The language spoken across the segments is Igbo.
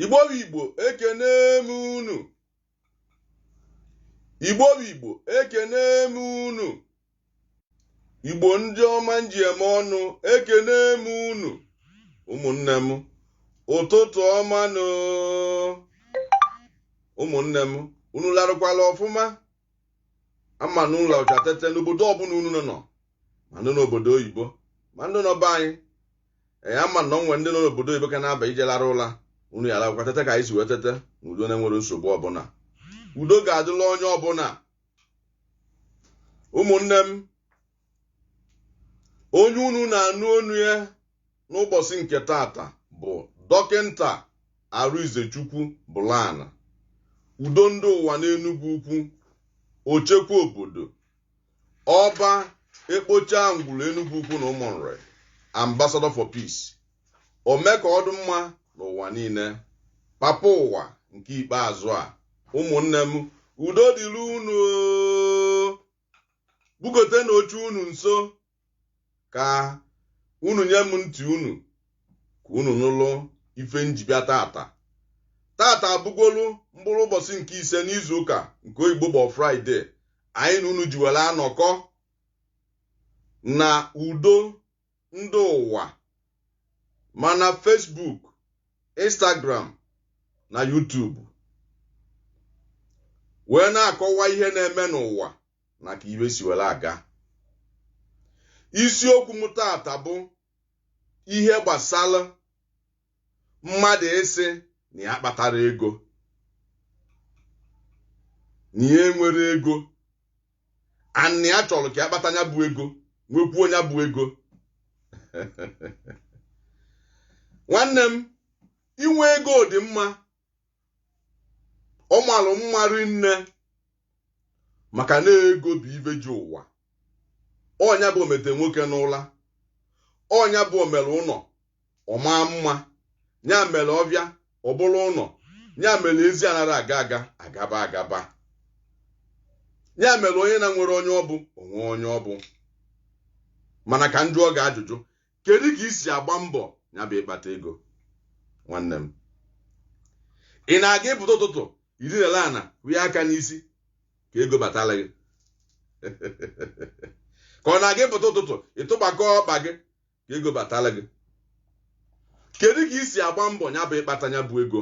igbo igbo ekene m unu igbo igbo ekene m unu igbo ndị ọma nji eme ọnụ ekene m unu ụmụnne m ụtụtụ ọma nụ ụmụnne m unu larụkwala ọfụma ama m na unu larụcha tete n'obodo ọbụna unu nọ anọ ma ndị n'obodo oyibo ma ndị nọ be anyị ee ama m na o nwere ndị nọ n'obodo oyibo ka na-aba ije larụ ụla unu ya-alarụkwa tete ka anyị si wee tete na udo na-enwerọ nsogbu ọbụna udo ga-adịlị onye ọbụna ụmụnne m onye unu na-anụ onu ya n'ụbọsị nke taata bụ dọkịta Arịnzechukwu Bụlana udo ndị ụwa n'Enugwu Ukwu ochekwa obodo ọba ekpocha ngwuru Enugwu Ukwu na Ụmụnri ambassador for peace ome ka ọ dị mma n'ụwa niile papa ụwa nke ikpeazụ a ụmụnne m udo dịrị unu bugotenụ oche unu nso ka unu nye m ntị unu ka unu nụlụ ife nji bịa taata taata abụgolu mkpụrụ ụbọsị nke ise n'izu ụka nke oyibo bụ Friday anyị na unu ji were anọkọ na udo ndị ụwa ma na Facebook Instagram na YouTube wee na-akọwa ihe na-eme n'ụwa na ka ife si were aga isiokwu m taata bụ ihe gbasara mmadụ ịsị na ya akpatarọ ego na ya enwerọ ego a na ya chọrọ ka ya kpata nya bụ ego nwekwuo nya bụ ego nwanne m inwe ego dị mma ọ malụ mma rinne maka na ego bụ ife ji ụwa ọ nya bụ omete nwoke n'ụla ọ nya bụ omere ụnọ ọ maa mma nya mere ọfịa ọ bụrụ ụnọ nya mere ezi anarọ aga aga agaba agaba nya mere onye na-enwerọ onye ọ bụ o nwee onye ọ bụ mana ka njụọ gị ajụjụ kedu ka i si agba mbọ nya bụ ịkpata ego nwanne m ị na-aga ịpụta ụtụtụ i dinalụ ana fie aka n'isi ka ego batalụ gị ka ọ na-aga ịpụta ụtụtụ ị tụgbakọ ọkpa gị ka ego batalụ gị kedu ka i si agba mbọ nya bụ ịkpata nya bụ ego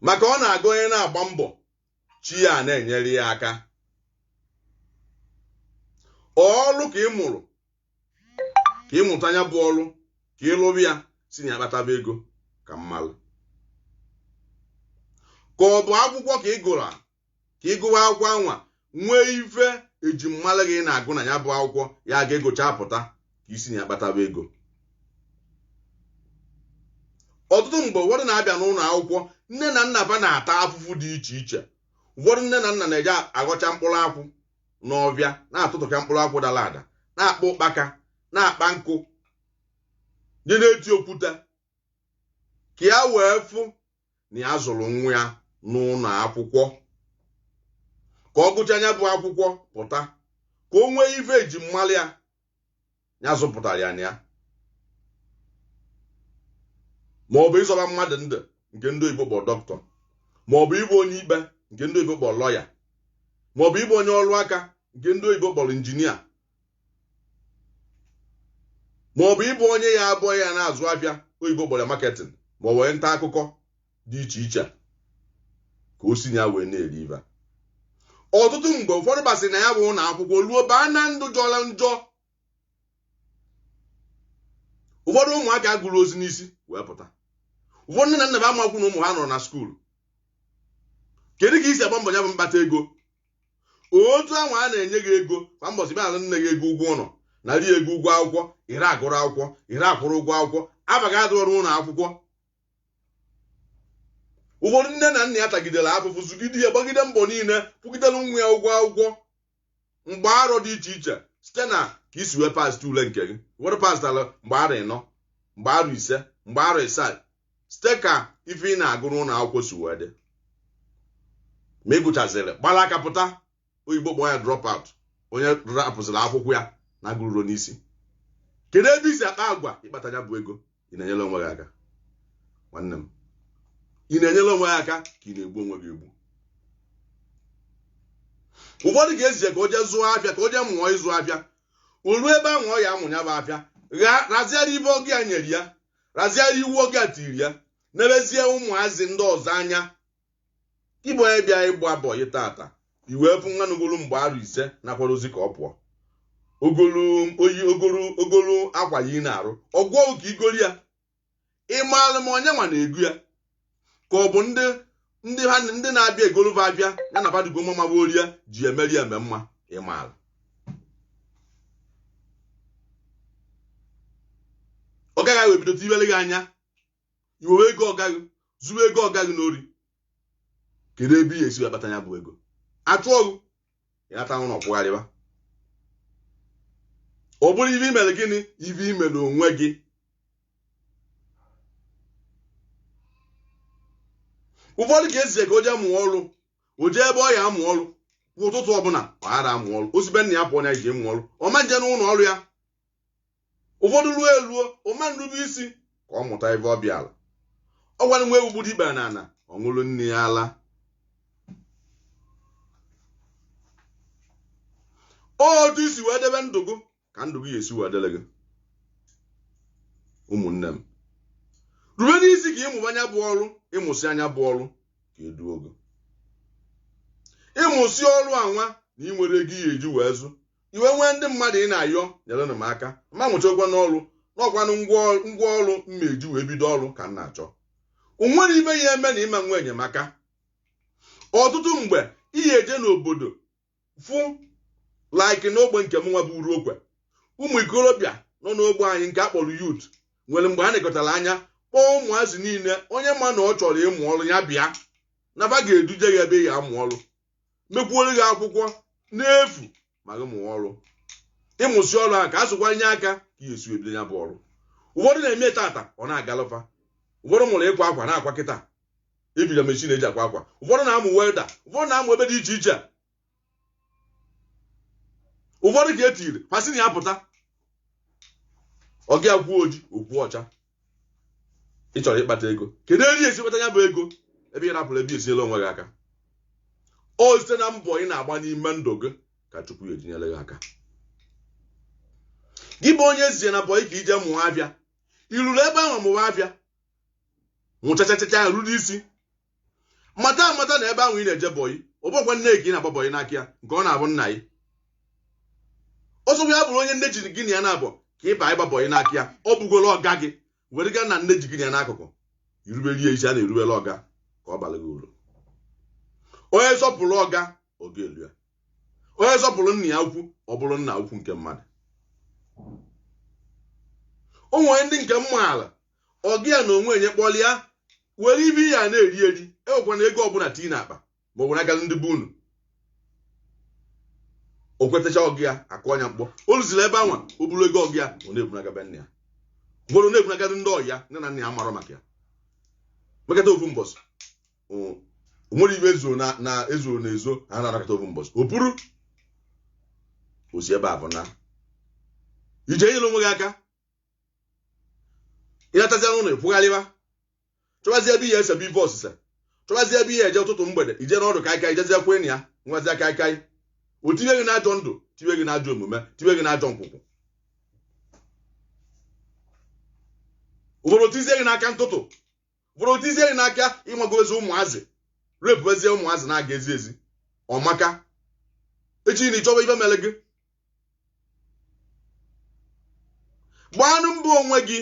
maka ọ na-aga onye na-agba mbọ chi ya na-enyere ya aka ọrụ ka ị mụrụ ka ị mụta nya bụ ọrụ ka ị lụba ya si na ya kpataba ego ka m malụ ka ọ bụ akwụkwọ ka ị gụrụ ka ị gụba akwụkwọ anwa nwee ife e ji malụ gị na-agụ na ya bụ akwụkwọ ya ga-agụcha pụta ka i si na ya kpataba ego ọtụtụ mgbe ụfọdụ na-abịa n'ụlọ akwụkwọ nne na nna ba na-ata afụfụ dị iche iche ụfọdụ nne na nna na-eje aghọcha mkpụrụ akwụ n'ọfịa na-atụtụkọ mkpụrụ akwụ dara ada na-akpa ụkpaka na-akpa nkụ ya na-eti okwute ka ya wee fụ na ya zụrụ nwa ya n'ụlọ akwụkwọ ka ọ gụcha ya bụ akwụkwọ pụta ka o nwee ife e ji malụ ya ya zụpụtara ya na ya ma ọ bụ ịzọba mmadụ ndụ nke ndị oyibo kpọrọ dọkịta ma ọ bụ ịbụ onye ikpe nke ndị oyibo kpọrọ lọya ma ọ bụ ịbụ onye ọrụ aka nke ndị oyibo kpọrọ injinia ma ọ bụ ịbụ onye ya-abụ ya na-azụ afịa oyibo kpọrọ marketing ma ọ bụrụ nta akụkọ dị iche iche ka o si na ya wee na-eri ife ọtụtụ mgbe ụfọdụ basịrị na ya bụ ụlọ akwụkwọ ruo baa na ndụ jọrọ njọ ụfọdụ ụmụaka agụrọzi n'isi wee pụta ụfọdụ nne na nna ba amakwu na ụmụ ba nọrọ na skuulu kedu ka i si agba mbọ ya bụ mkpata ego otu anwa a na-enye gị ego kwa mbọchị bịa nye gị ego ụgwọ ụlọ na nri ego ụgwọ akwụkwọ i rie agụrọ akwụkwọ i rie akwụrọ ụgwọ akwụkwọ abaghị adụ ọrụ ụlọ akwụkwọ ụfọdụ nne na nna ya tagidere afụfụ zụgide ya gbagide mbọ niile kwụgidere nwa ya ụgwọ akwụkwọ mgbe arọ dị iche iche site na ka i si wee pass ule nke gị ụfọdụ pastara mgbe arọ ịnọ mgbe arọ ise mgbe arọ ịsaa site ka ife ị na-agụ n'ụlọ akwụkwọ si wee dị ma ị gụchaziri gbara aka pụta oyibo kpọọ ya drop out onye rapụziri akwụkwọ ya na-agụrurọ n'isi kedu ebe i si akpa agwa ịkpata ya bụ ego ị na-enyere onwe gị aka nwanne m ị na-enyere onwe gị aka ka ị na-egbu onwe gị egbu ụfọdụ ga-ezije ka o jee zụọ afịa ka o jee mụọ ịzụ afịa o ruo ebe ahụ ọ ya-amụ ya bụ afịa gharaziara ife ọga ya nyere ya razie iwu ọga ya tiiri ya nebezie ụmụazị ndị ọzọ anya ịbụ onye bịa ịgba bọyị tata i wee fụ nwa nọgolu mgbe arọ ise na-akwadozi ka ọ pụọ o golu o yi o golu o golu akwa ya ị na-arụ ọgwọ ka i gori ya ị maalụ ma onye nwa na-egu ya ka ọ bụ ndị ndị ha ndị na-abịa egolu fa afịa ya nabadugo mma maba orie ji emeri eme mma ị maara ọga gị ebido tinyere gị anya i wewe ego ọga gị zuru ego ọga gị n'ori kedu ebe ị ya-esi wee kpata ya bụ ego achụọ gị ya ata ụlọ pụgharịba ọ bụrụ ife i mere gịnị ife i mere onwe gị ụfọdụ ka e zie ka o jee mụọ ọrụ o jee ebe ọ ya-amụ ọrụ kwa ụtụtụ ọbụla ọ ghara amụ ọrụ o si be nna ya pụọ na ije mụọ ọrụ ọ ma nje n'ụlọ ọrụ ya ụfọdụ ruo eruo ọ ma nrube isi ka ọ mụta ife ọ bịara ọkwanụ nwa ewu gburu ikpere n'ana ọ ṅụrụ nne ya ala otu i si wee debe ndụ gị ka ndụ gị ga-esi wee dịrị gị ụmụnne m rube isi ka ị mụba nya bụ ọrụ ị mụsịa nya bụ ọrụ ka e duo gị ị mụsị ọrụ anwa na i nwerọ ego ị ya-eji wee zụ i wee nwee ndị mmadụ ị na-ayọ nyerenụ m aka m amụchagwonụ ọrụ n'ọkwanụ ngwa ọrụ m ya-eji wee bido ọrụ ka m na-achọ o nwerọ ife ya-eme na ị ma nwe enyemaka ọtụtụ mgbe ị ya-eje n'obodo fụ like n'ogbe nke mụnwa bụ Uruokwe ụmụ ikorobịa nọ n'ogbe anyị nke a kpọrọ youth nwere mgbe a nekọtara anya kpọọ ụmụazị niile onye ma na ọ chọrọ ịmụ ọrụ ya bịa na fa ga-eduje gị ebe ị ya-amụ ọrụ mekwuoro gị akwụkwọ n'efu ma gị mụọ ọrụ ị mụsị ọrụ ahụ ka a sụkwa nye aka ka ị ya-esi ebido ya bụ ọrụ ụfọdụ na-eme tata ọ na-agalụ fa ụfọdụ mụrụ ịkwa akwa na-akwa kịta ebido machine e ji akwa akwa ụfọdụ na-amụ welder ụfọdụ na-amụ ife dị iche iche ụfọdụ ka e tiri a sị nya pụta ọga ya kwuo oji o kwuo ọcha ị chọrọ ịkpata ego kedu ebe ị ya-esi kpata ya bụ ego ebe ị rapụrụ ebe i si enyere onwe gị aka o site na mbọ ị na-agba n'ime ndụ gị ka Chukwu ya-eji nyere gị aka gị bụ onye e zie na bọyị ka i je mụọ afịa i ruru ebe ahụ mụwa afịa mụchachachacha ruru isi mata amata na ebe ahụ ị na-eje bọyị ọ bụrọkwa nne ka ị na-agba bọyị n'aka ya nke ọ na-abụ nna gị ọ sọkwa ya bụrụ onye nne ji gị na ya naabọ ka ị bịa ịgba bọyị n'aka ya ọ bụgoro ọga gị were gaa na nne ji gị na ya n'akụkụ i rubere ya isi a na-erubere ọga ka ọ baara gị uru onye sọpụrụ ọga ọga eruo ya onye sọpụrụ nna ya ukwu ọ bụrụ nna ukwu nke mmadụ o nwere ndị nke m maara ọga ya na o nwee onye kpọrọ ya were ife ị ya na-eri eri ewekwana ego ọbụla tii na akpa ma bunagazị ndị be unu o kwetacha ọga ya akụ ọnya mkpọ o rụziri ebe anwa o buru ego ọga ya ọ na-ebunaga be nna ya ụfọdụ na-ebunaga ndị ọyị ya nne na nna ya marọ maka ya mekata ofu mbọsị o- o nwere ife ezuo na na ezuo na ezo ha na-anakọta ofu mbọsị o buru osi ebe a bụ na ị je nyere onwe gị aka ị natazia n'ụlọ ị kwụgharịba chọbazie ebe ị ya-esebe ife osise chọbazie ebe ị ya-eje ụtụtụ mgbede ị je n'ọdụ kaikai jezie kwe enyi ya ṅụwazie kaikai o tinye gị n'ajọ ndụ tinye gị n'ajọ omume tinye gị n'ajọ nkwụkwụ ọ bụrụ o tizie gị n'aka ntụtụ bụrụ o tizie gị n'aka ịmagozi ụmụazị repuezie ụmụazị na-aga ezi ezi ọ maka echi na ị chọba ife mere gị gbaanụ mbọ onwe gị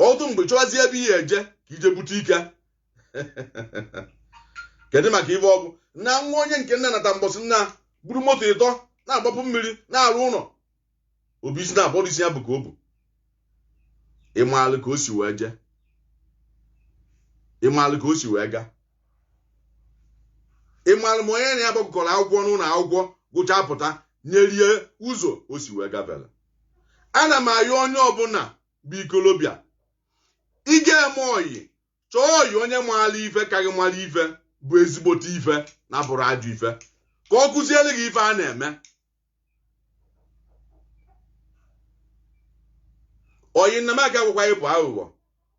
ọtụtụ mgbe chọwazie ebe ị ya-eje ka ị je bute ike kedu maka ife ọgwụ na nwa onye nke nna nata mbọsị nna buru moto ịtọ na-agbapụ mmiri na-arụ ụlọ ọ bụ easy na ọ bụrọ easy ya bụ car o bu ị maalụ ka o si wee jee ị maalụ ka o si wee gaa ị maalụ ma onye na ya gbakọrọ akwụkwọ n'ụlọ akwụkwọ gụchaa pụta nyere ya ụzọ o si wee gabela ana m ayọ onye ọbụla bụ ikolobịa ị ga-eme ọyị chọọ ọyị onye maara ife ka gị mara ife bụ ezigbote ife na-abụrọ ajọ ife ka ọ kụziere gị ife a na-eme ọyị nna m ka agwakwa ị bụ aghụghọ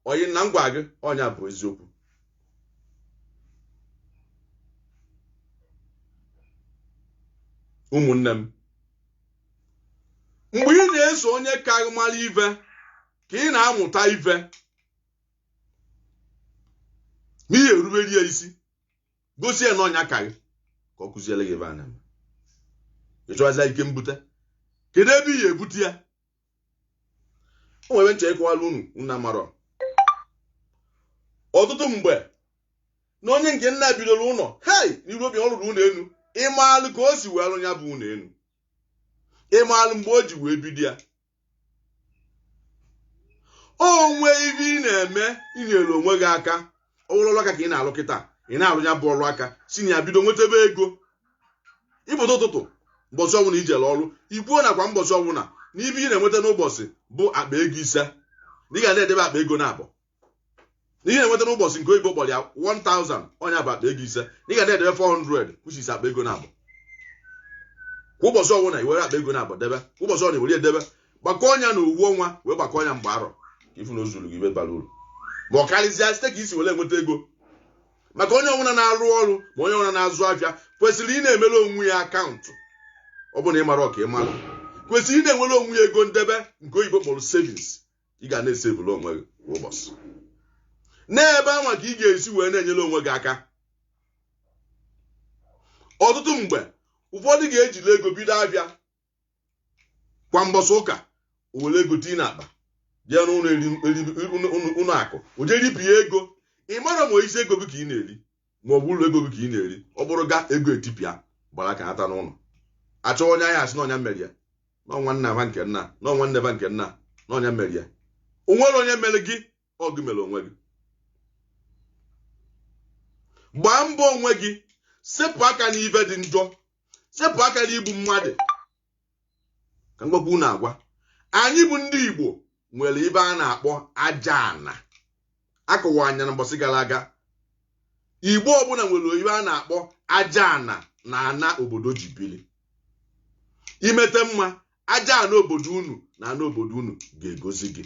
ọyị nna m gwa gị ọ nya bụ eziokwu ụmụnne m mgbe ị na-eso onye ka gị mara ife ka ị na-amụta ife na ị ya-erubere ya isi gosi ya na ọ nya ka gị ka ọ kụziere gị ife a na-eme ị chọwazi ike mbute kedu ebe ị ga-ebute ya o nwere nche ịkọwara unu nna marọ ọtụtụ mgbe na onye nke nna bidoro ụlọ hei n'iru obi ọ rụrụ ụlọ elu ị maalụ ka o si wee rụ ya bụ ụlọ elu ị maalụ mgbe o ji wee bido ya o nwee ife ị na-eme enyere onwe gị aka ọrụ aka ka ị na-alụ kịta ị na-alụ ya bụ ọrụ aka si na ya bido nwetebe ego ị pụta ụtụtụ mbọsị ọbụla ị jere ọrụ ị kwuo na kwa mbọsị ọbụla na ife ị na-enweta n'ụbọsị bụ akpa ego ise na ị ga na-edebe akpa ego naabọ na ị na-enweta n'ụbọchị nke oyibo kpọrọ ya 1000 nya bụ akpa ego ise na ị ga na-edebe 400 which is akpa ego naabọ kwa ụbọchị ọbụla i were akpa ego naabọ debe kwa ụbọchị ọbụla i were edebe gbakọọ nya na ofu ọnwa wee gbakọọ nya mgbe arọ ka ị fụ na ọ zụrụ gị ibe bara uru ma ọ karịzịa site ka isi were enweta ego maka onye ọbụla na-arụ ọrụ ma onye ọbụla na-azụ afịa kwesịrị ị na-emere onwe ya akaụntụ ọ bụrụ na ị marọ ka ị mara kwesịrị ị na-enwere onwe ya ego ndebe nke oyibo kpọrọ savings ị ga na-esevụrụ onwe gị kwa ụbọchị n'ebe anwa ka ị ga-esi wee na-enyere onwe gị aka ọtụtụ mgbe ụfọdụ ga-ejiri ego bido afịa kwa mbọsị ụka were ego tii n'akpa jee n'ụlọ akụ o jee ripịa ego ị marọ ma isi ego gị ka ị na-eri ma ọ bụ uru ego gị ka ị na-eri ọ bụrụ ga ego etipịa gbara aka nata n'ụlọ achọ onye ọ ya-asị na ọ nya mere ya na ọ nwanna ba nke nna na ọ nwanne ba nke nna na ọ nya mere ya o nwerọ onye mere gị ọ gị mere onwe gị gbaa mbọ onwe gị sepụ aka n'ibe dị njọ sepụ aka n'igbu mmadụ ka m gwakwa unu agwa anyị bụ ndị Igbo nwere ibe a na-akpọ aja ana akọwaa nya na mbọsị gara aga Igbo ọbụla nwere ibe a na-akpọ aja ana na ana obodo ji bili i meta mma aja ana obodo unu na ana obodo unu ga-egozi gị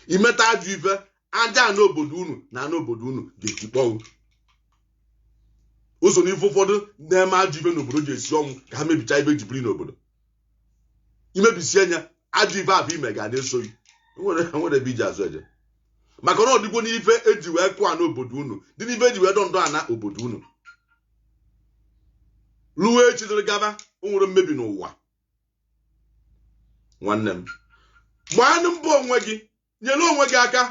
i meta ajọ ife aja ana obodo unu na ana obodo unu ga-etikpọnwụ o so n'ife ụfọdụ na-eme ajọ ibe n'obodo ji esi ọnwụ ka ha mebicha ibe ji biri n'obodo i mebisie nya ajọ ibe afụ i me ga na-eso gị nwerọ ebe i ji azụ eje maka na ọ dịgo n'ife eji wee kụọ ana obodo unu dị n'ife eji wee dọ ndọ ana obodo unu ruo echi dịrị gaba o nwere mmebi n'ụwa nwanne m gbaanụ mbọ onwe gị nyere onwe gị aka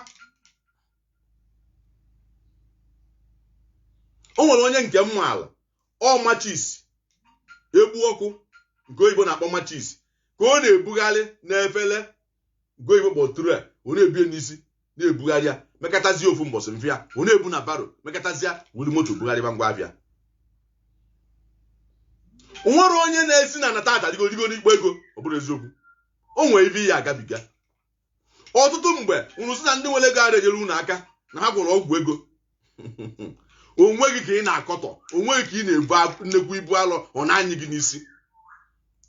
o nwere onye nke m maala ọ machis egbu ọkụ nke oyibo na-akpọ machis ka ọ na-ebugharị n'efere nke oyibo kpọ tray ọ na-ebu ya n'isi na-ebugharị ya mekatazie ofu mbọsị afịa ọ na-ebu na barrow mekatazia weli moto bugharịba ngwa afịa nwere onye na-esi na na tata arigo rigo n'ikpo ego ọ bụrụ eziokwu o nwere ibe ya-agabiga ọtụtụ mgbe unu sị na ndị nwere ego arọ enyere unu aka na ha gwọrọ ọgwụ ego onwe gị ka ị na-akọtọ onwe gị ka ị na-ebo nnekwu ibu alọ ọ na-anyị gị n'isi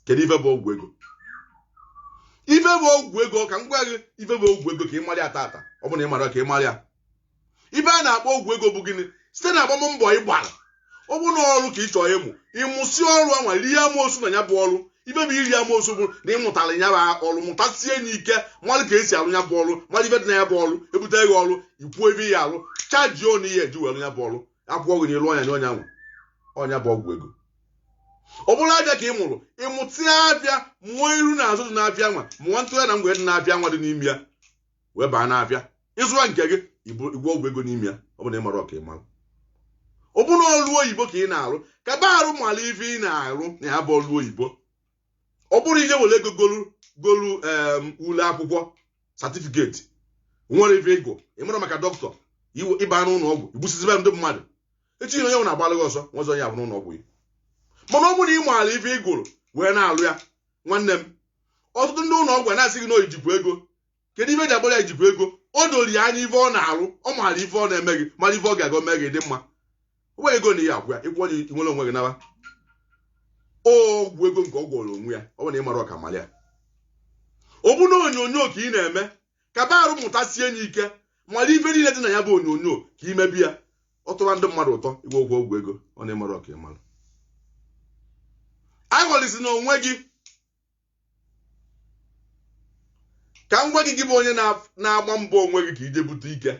kedu ife bụ ọgwụ ego ife bụ ọgwụ ego ka m gwa gị ife bụ ọgwụ ego ka ị mara ya tata ọ bụ na ị marọ ka ị mara ya ife a na-akpọ ọgwụ ego bụ gịnị site na agbam mbọ ị gbara ọ bụ na ọrụ ka ị chọrọ ịmụ ị mụsịa ọrụ anwa rie amoosu na ya bụ ọrụ ife bụ iri amoosu bụ na ị mụtara ya bụ ọrụ mụtasie ya ike mara ka esi arụ ya bụ ọrụ mara ife dị na ya bụ ọrụ ebute gị ọrụ i kwuo ebe ya arụ chaji ọnụ ihe eji were ya bụ ọrụ a kwụọ gị n'elu ọnya nye onye nwe ya ọnwa bụ ọgwụ ego ọ bụrụ afịa ka ị mụrụ ị mụsịa afịa mụọ iru na azụ dị n'afịa anwa mụọ ntụgharị na mgbe dị n'afịa anwa dị n'ime ya wee baa n'afịa ị zụwa nke gị ị gwọọ ọgwụ ego n'ime ya ọ bụ na ị marọ ka ị mara ọ bụ na ọlụ oyibo ka ị na-arụ ka ba arụ mara ife ị na-arụ na ya bụ ọlụ oyibo ọ bụrọ ije were ego golu golu ule akwụkwọ satifiketi nwerọ ife ị gụ ị mara maka dọkịta ị baa n'ụlọ ọgwụ igbusizibe ndị mmadụ echi onye nwere a gbalụ gị ọsọ nwezọ ya bụ n'ụlọ ọgwụ ya mana ọ bụrụ na ị maara ife ị gụrụ wee na-alụ ya nwanne m ọtụtụ ndị ụlọ ọgwụ na-asị gị ijikwa ego kedu ife ji agbara ya ijikwa ego o doro ya anya ife ọ na-arụ ọ maara ife ọ na-eme gị mara ife ọ ga-aga mee gị dị mma o nwere ego na ihe agwa ya ịkwụ onye nwere onwe gị naba ọgwụ ego nke ọ gwọrọ onwe ya ọ bụ na ị marọ ka ị mara ya ọ bụ na onyonyo ka ị na-eme ka ba arụ mụtasie ya ike mara ife niile dị na ya bụ onyonyo ka i mebe ya ọ tọwa ndị mmadụ ụtọ ị gwọgo ọgwụ ego ọ na ị marọ ka ị mara aghọlịzịna onwe gị ka m gwa gị gị bụ onye na-agba mbọ onwe gị ka ije bute ike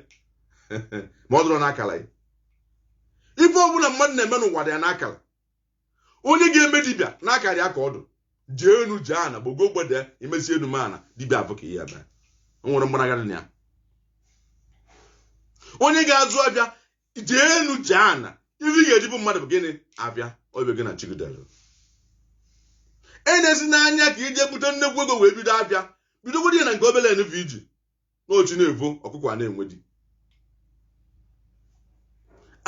ma ọ dụrọ n'akara gị ife ọbụla mmadụ na-eme n'ụwa dị ya n'akara onye ga-eme dibịa n'akara ya ka ọ dụ jee enu jee ana gbago gbada i mesịa enu mee ana dibịa afụ ka ị ya-eme o nwerọ mgbanaga dị na ya onye ga-azụ afịa jee enu jee ana ife ị ga-eji bụ mmadụ bụ gịnị afịa obe gị na chigidere enezina anya ka ije bute nnekwu ego wee bido afịa bidogodi ya na nke obele nwa i ji n'ochi na-evo ọkụkọ a na-enwe di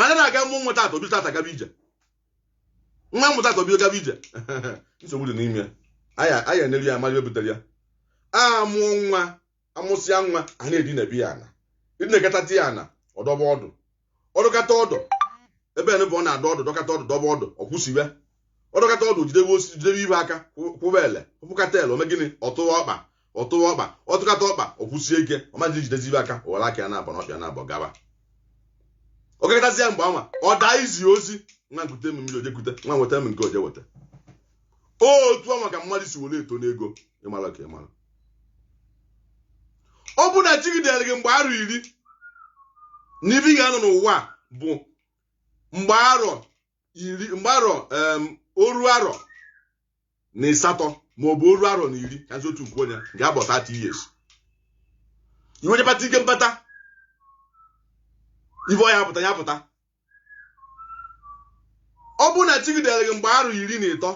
anyị na-aga amụ nwa tata obi tata gaba ije nwa a mụ tata obi gaba ije nsogbu dị n'ime ya anyị anyị eneri ya mara ife butere ya a mụọ nwa amụsịa nwa a na-edinabe ya ana e dinakatata ya ana ọ dọba ọdụ ọ dọkata ọdụ ebe ene bụ ọ na-adọ ọdụ dọkata ọdụ dọba ọdụ ọ kwụsie ọ dọkata ọdụ jidebe osisi jidebe ife aka kwụ- kwụba ele kwụkata ele o mee gịnị ọ tụwa ọkpa ọ tụwa ọkpa ọ tụkata ọkpa ọ kwụsie ike ọ ma ejidezi ife aka o were aka ya naabọ na ọkpa ya naabọ gaba ọkakọtazi ya mgbe anwa ọ daa izi ozi nwa nkute m mmiri o je kute nwa nweta m nke a o je weta otu anwa ka mmadụ si were eto n'ego ị marọ ka ị mara ọ bụ na chi gị dere gị mgbe arọ iri na ife ị ga-anọ n'ụwa bụ mgbe arọ iri mgbe arọ oru arọ na ịsatọ ma ọ bụ oru arọ na iri kazi otu nke onye ga-abụ 30 years i wee nyepata ike mbata ife ọ ya-apụta ya pụta ọ bụrụ na chi gị dere gị mgbe arọ iri na ịtọ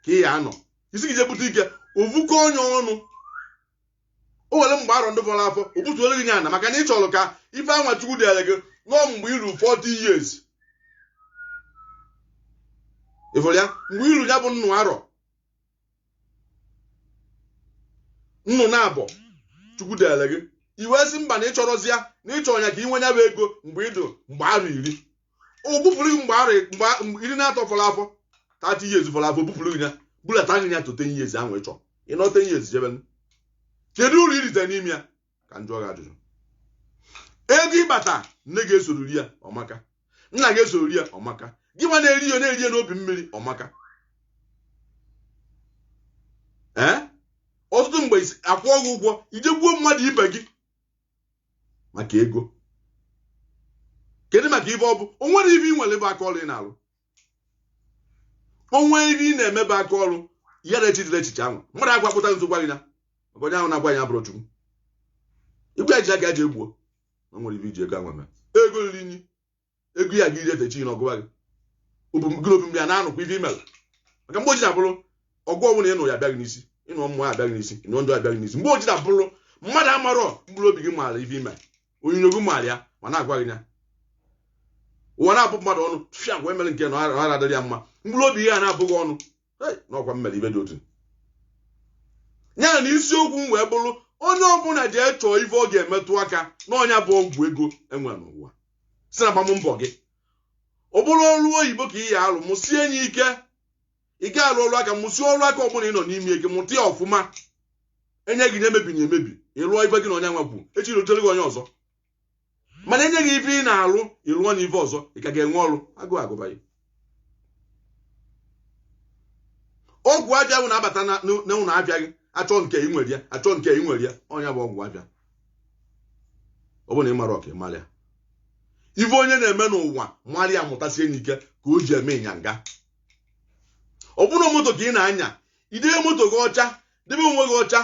ka ị ya anọ ị sị gị je bute ike ovukọ onye ọnụ o were mgbe arọ ndị fọrọ afọ o butuoro gị nye ana maka na ị chọrọ ka ife anwa chukwu dere gị nọọ mgbe i ru 40 years ị fụrụ ya mgbe i ru ya bụ nnụ arọ nnụ naabọ chukwu dere gị i wee sị mba na ị chọrọzi ya na ị chọrọ nya ka i nwee ya bụ ego mgbe ị dị mgbe arọ iri o bupuru gị mgbe arọ iri naatọ fọrọ afọ 30 years fọrọ afọ o bupuru gị ya bulata gị ya to 10 years ahụ ị chọrọ ị nọọ 10 years jebe kedu uru i rite n'ime ya ka m jụọ gị ajụjụ ego ị kpata nne gị esoro rie ya ọ maka nna gị esoro rie ya ọ maka gị nwa na-eri ya na-eri ya n'obi mmiri ọ maka ee ọtụtụ mgbe a kwụọ gị ụgwọ i je gbuo mmadụ ibe gị maka ego kedu maka ife ọ bụ o nwere ife ị nwere bụ aka ọrụ ị na-alụ o nwe ife ị na-eme bụ aka ọrụ ya na echichile echiche ahụ mmadụ agwa pụta nso gwa gị na maka onye ahụ na-agwa ya bụrụ chukwu igwe eji aka eji egbuo na nwere ife i ji ego ahụ eme ego riri nyi ego ya gị irete chi na ọgụwa gị obi gị obi mgbe ya na-anụkwa ife i mere maka mgbe o ji na-abụrụ ọgụ ọnwụ na ịnụ ya abịa gị n'isi ịnụ mmụọ abịa gị n'isi ịnụ ndụ abịa gị n'isi mgbe o ji na-abụrụ mmadụ amarọ mkpụrụ obi gị maara ife i me onyinyo gị maara ya ma na-agwa gị na ụwa na-abụ mmadụ ọnụ fia gwa emere nke na ọra adịrị ya mma mkpụrụ obi ya na-abụ gị ọnụ na ọ kwa m mere ife dị otu a na isiokwu m wee bụrụ onye ọbụla je chọọ ife ọ ga-emetụ aka na ọ nya bụ ọgwụ ego e nwere n'ụwa sị na gbaa mbọ gị ọ bụrụ ọrụ oyibo ka ị ya alụ mụsie nya ike ị ga alụ ọrụ aka mụsie ọrụ aka ọbụla ị nọ n'ime gị mụta ya ọfụma e nye gị nya emebina emebi ị lụọ ife gị na onye nwa kwuru echi rutere gị onye ọzọ mana e nye gị ife ị na-alụ ị lụọ na ife ọzọ ị ka ga-enwe ọrụ agụụ agụba gị ọgwụ abịa bụ na-abata na ụlọ abịa gị achọ nke ị nwere ya achọ nke ị nwere ya onye bụ ọgwụ abịa ọ bụrụ na ị mara ọka ị mara ya ife onye na-eme n'ụwa mara ya mụtasie nya ike ka o ji eme ịnyanga ọ bụrụ moto ka ị na-anya i debe moto gị ọcha debe onwe gị ọcha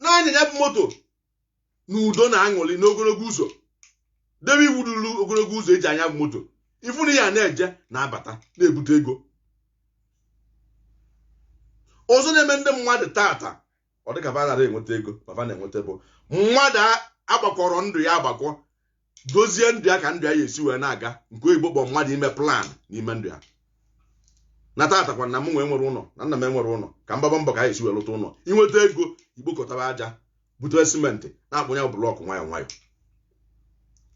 na-anya ya bụ moto na udo na aṅụrị n'ogologo ụzọ debe iwu dịrị ogologo ụzọ e ji anya bụ moto ị fụ na ị ya na-eje na-abata na-ebute ego ọzọ na-eme ndị mmadụ taata ọ dịka ba aghara enweta ego ma ba na-enweta bụ mmadụ agbakọrọ ndụ ya agbakọ dozie ndụ ya ka ndụ ya ya esi wee na-aga nke oyibo kpọ mmadụ ime plan n'ime ndụ ya na tatakwa na mụ nwa enwere ụlọ na nna m enwere ụlọ ka m gbaa mbọ ka anyị esi wee lụta ụlọ i nweta ego i bukọtaba aja bute simenti na-akpụnye blọkụ nwayọ nwayọ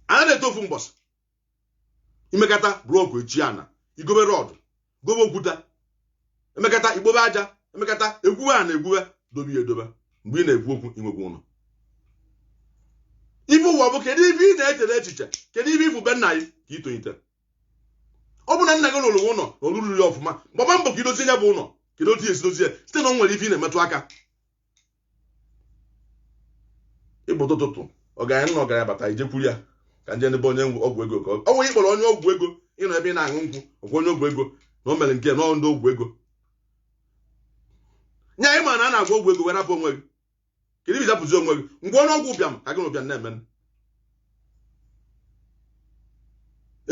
a na-eto ofu mbọsị i mekata blọkụ echi ana i gobe rọdụ gobe okwuta emekata i bube aja emekata egwuwe ana egwuwe dobe ya edobe mgbe ị na-ekwu okwu i nwekwa ụlọ ife ụwa bụ kedu ife ị na-echere echiche kedu ife ị fụ be nna gị ka ị tonite ọ bụ na nna gị lụrụ ụlọ na ọ lụrọ ya ọfụma gbaba mbọ ka i dozie ya bụ ụlọ kedu otu ị ya-esi dozie site na ọ nwere ife ị na-emetụ aka ị pụta ụtụtụ ọgaranya nụ na ọgaranya bata i jekwuru ya ka nje n'ebe onye ọgwụ ego ka ọ nwere ị kpọrọ onye ọgwụ ego ị nọ ebe ị na-aṅụ nkwụ ọgwụ onye ọgwụ ego na o mere nke na ndị ọgwụ ego nye ị ma na a na-agwọ ọgwụ ego wee rapụ onwe gị kedu ibi zapụzi onwe gị ngwa ọnụ ọgwụ ụbịam ka gị na ụbịam na-eme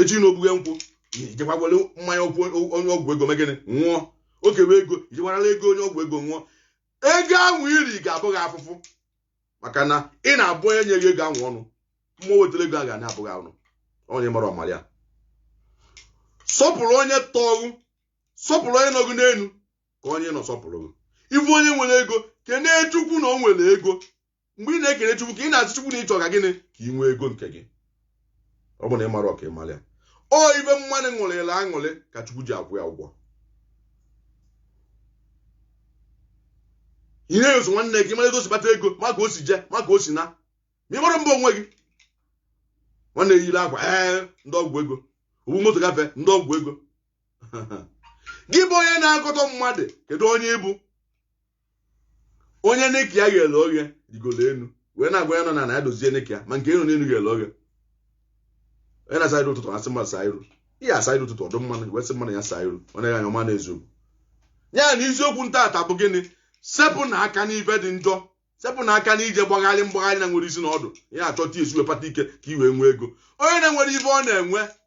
echi na ogbughe nkwụ i jekwa kwere mmanya ọgwụ onye ọgwụ ego mee gịnị nwụọ oke wee ego i jekwa nara ego onye ọgwụ ego nwụọ ego ahụ i ri ga-abụ gị afụfụ maka na ị na-abụ onye nye gị ego ahụ ọnụ mmụọ wetara ego a ga na-abụ gị ọnụ onye mara ọ mara ya sọpụrụ onye tọrọ gị sọpụrụ onye nọ gị n'elu ka onye nọ sọpụrụ gị ị fụ onye nwere ego kenee chukwu na o nwere ego mgbe ị na-ekele chukwu ka ị na-asị chukwu na ị chọ ka gịnị ka ị nwee ego nke gị ọ bụ na ị marọ ka ị mara ya ọ ife mmadụ ṅụrịla aṅụrị ka chukwu ji akwụ ya ụgwọ ị na-eso nwanne gị mara etu o si kpata ego ma ka o si je ma ka o si na ma ị mara mba onwe gị nwanne yiri akwa ee ndị ọgwụ ego o buru moto gafee ndị ọgwụ ego gị bụ onye na-akọtọ mmadụ kedu onye ị bụ onye nika ya ghere oghe rigoro enu wee na-agwa onye nọ n'ana ya dozie nika ya ma nke onye nọ n'elu ghere oghe onye na-asa iru ụtụtụ asị mmadụ saa iru onye asaa iru ụtụtụ ọ fụ mmadụ wee sị mmadụ ya saa iru ọ naghị anya ọma na eziokwu ya na isiokwu m taata bụ gịnị sepụnụ aka n'ife dị njọ sepụnụ aka n'ije gbagharị mgbagharị na-enwere isi na ọdụ ya achọta esi wee kpata ike ka i wee nwee ego onye na-enwere ife ọ na-eme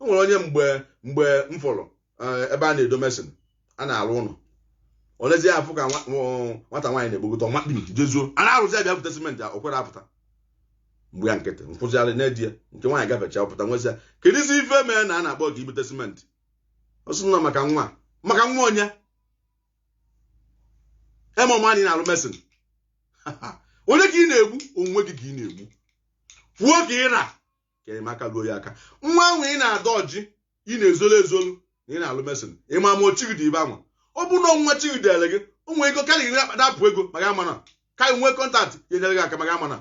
o nwere onye mgbe mgbe m fụrụ eh, ebe a na-edo mason a na-alụ ụlọ olezie afụ ka nwa- nwa- nwata nwaanyị na-egbogota ọma kpiri jezuo a na-arụzi a bịa bute simenti o kwere apụta a gba ya nkịtị nkwụzigharị na-edi ya nke nwaanyị gafecha pụta m wee sị ya kedụzi ife mee na a na-akpọ gị bute simenti ọ sị nọ maka nwa maka nwa onye ime ọma anyị na-alụ mason onye ka ị na-egbu onwe gị ka ị na-egbu kwuo ka ị na ka enyemaka ruo ya aka nwa ahụ ị na-adọjị ị na-ezolu ezolu na ị na-alụ mason ịma ma ọ chi gị dị ibe anwa ọ bụrụ na ọnwa chi dere gị o nwere ego karịrị iri akpata apụ ego maka amana ka ị nwee kọntaktị ya enyere gị aka maka amana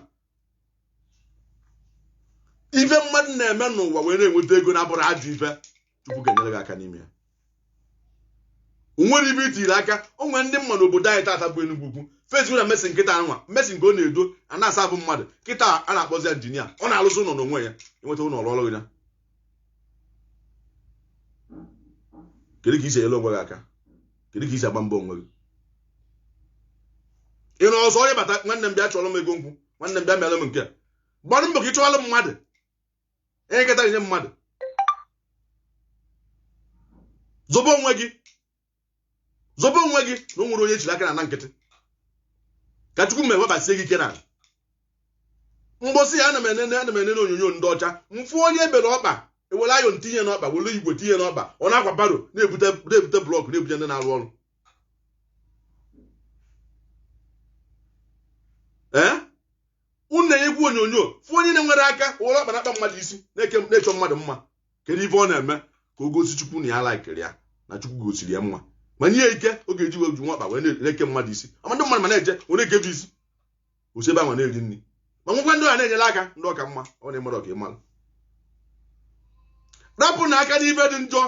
ife mmadụ na-eme n'ụwa wee na-enweta ego na-abụrụ ajọ ife chukwu ga-enyere gị aka n'ime ya o nwere ibe i tiri aka o nwere ndị mmadụ obodo anyị tata bụ Enugu ukwu Facebook na mason kịta anwa mason ka ọ na-edo a na-asa abụ mmadụ kịta a na-akpọzi injinia ọ na-alụzị ụlọ n'onwe ya enweta ụlọ ọrụ ọrụ ya kedu ka i si enyere onwe gị aka kedu ka i si agba mbọ onwe gị ị na ọzọ onye bata nwanne m bịa chọrọ m ego nkwụ nwanne m bịa mere m nke a gbanụ mbọ ka ị chọwalụ mmadụ ihe nketa na-enye mmadụ zobe onwe gị zobe onwe gị na o nwere onye ejiri aka na na nkịtị ka chukwu ma ewebasie gị ike na mgbọsị ya ana m enene ana m enene onyonyo ndị ọcha mfụ onye ebere ọkpa were iron tinye n'ọkpa were igwe tinye n'ọkpa ọ na-akwa barrow na-ebute na-ebute blọkụ na-ebute ndị na-arụ ọrụ ee unu na-enekwa onyonyo fụ onye na-enwerọ aka were ọkpa na-akpa mmadụ isi na-eke na-echọ mmadụ mma kedu ife ọ na-eme ka o gosi chukwu na ya laikiri ya na chukwu gosiri ya mma ma nye ya ike ọ ga-eji wee ji nwa ọkpa wee na- na-eke mmadụ isi ama ndị mmadụ ma na-eje wee na-eke gị isi o si ebe ahụ na-eri nri ma nwekwa ndị ọ na-enyere aka ndị ọ ka mma ọ na-emere ọ ka ị malụ rapụ na aka n'ife dị njọ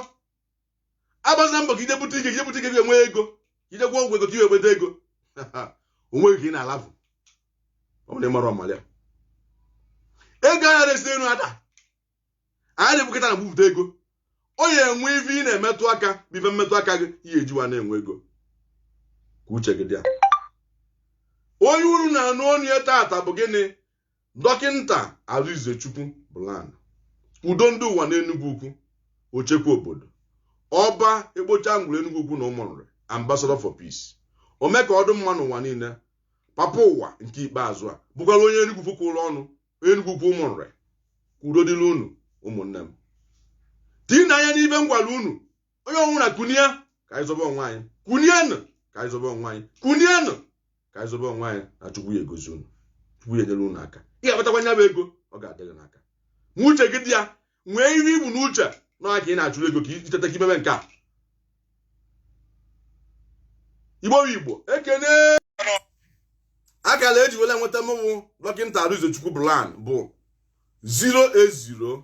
agbazila mbọ ka i je bute ike i je bute ike ga-enwe ego i je gwọ ọgwụ ego ka i wee nweta ego onweghị ka ị na-alafụ ọ bụrụ na ị mara ọmara ya ego anarọ esi elu ada anarọ ebukọta na bupụta ego ọ ya enwe ife ị na-emetụ aka bụ ife mmetụ aka gị ihe eji wee na-enwe ego ka uche gị dị ya onye unu na-anụ ọnụ ya tata bụ gịnị Dọkịnta Arizechukwu Bland, Udo Ndị Ụwa n'Enugwu Ukwu, Ochekwa Obodo, Ọba Ekpocha Ngwuru Enugwu Ukwu na Ụmụnrị, Ambassador for Peace, Ome ka ọ dị mma n'ụwa niile, Papa Ụwa nke ikpeazụ a, bụkwara onye Enugwu Ukwu kwụrụ ọnụ, onye Enugwu Ukwu Ụmụnrị, ka udo dịrị unu ụmụnne m. Tiinụ anya n'ife m gwara unu onye ọbụla kunie ka anyị zọba onwe anyị kunienụ ka anyị zọba onwe anyị kunienụ ka anyị zọba onwe anyị na chukwu ya egozi unu chukwu ya enyere unu aka ị ga-akpatakwa nya bụ ego ọ ga-adịrị n'aka ma uche gị dị ya nwee ihe i bu n'uche na ka ị na-achụrụ ego ka i teta ka i mebe nke a igbo bụ igbo ekene akara eji wele nweta mụnwa dọkịta Arizechukwu Bland bụ 080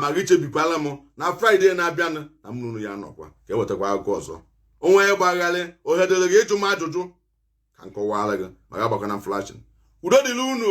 ma gị chebekwalụ m na Friday na-abịanụ na mụ na unu ya anọkwa ka ewetakwa akụkọ ọzọ o nwee ihe gbagharị ohe dịrị gị ịjụ m ajụjụ ka m kọwara gị ma gị agbakwana m flashing udo dịrị unu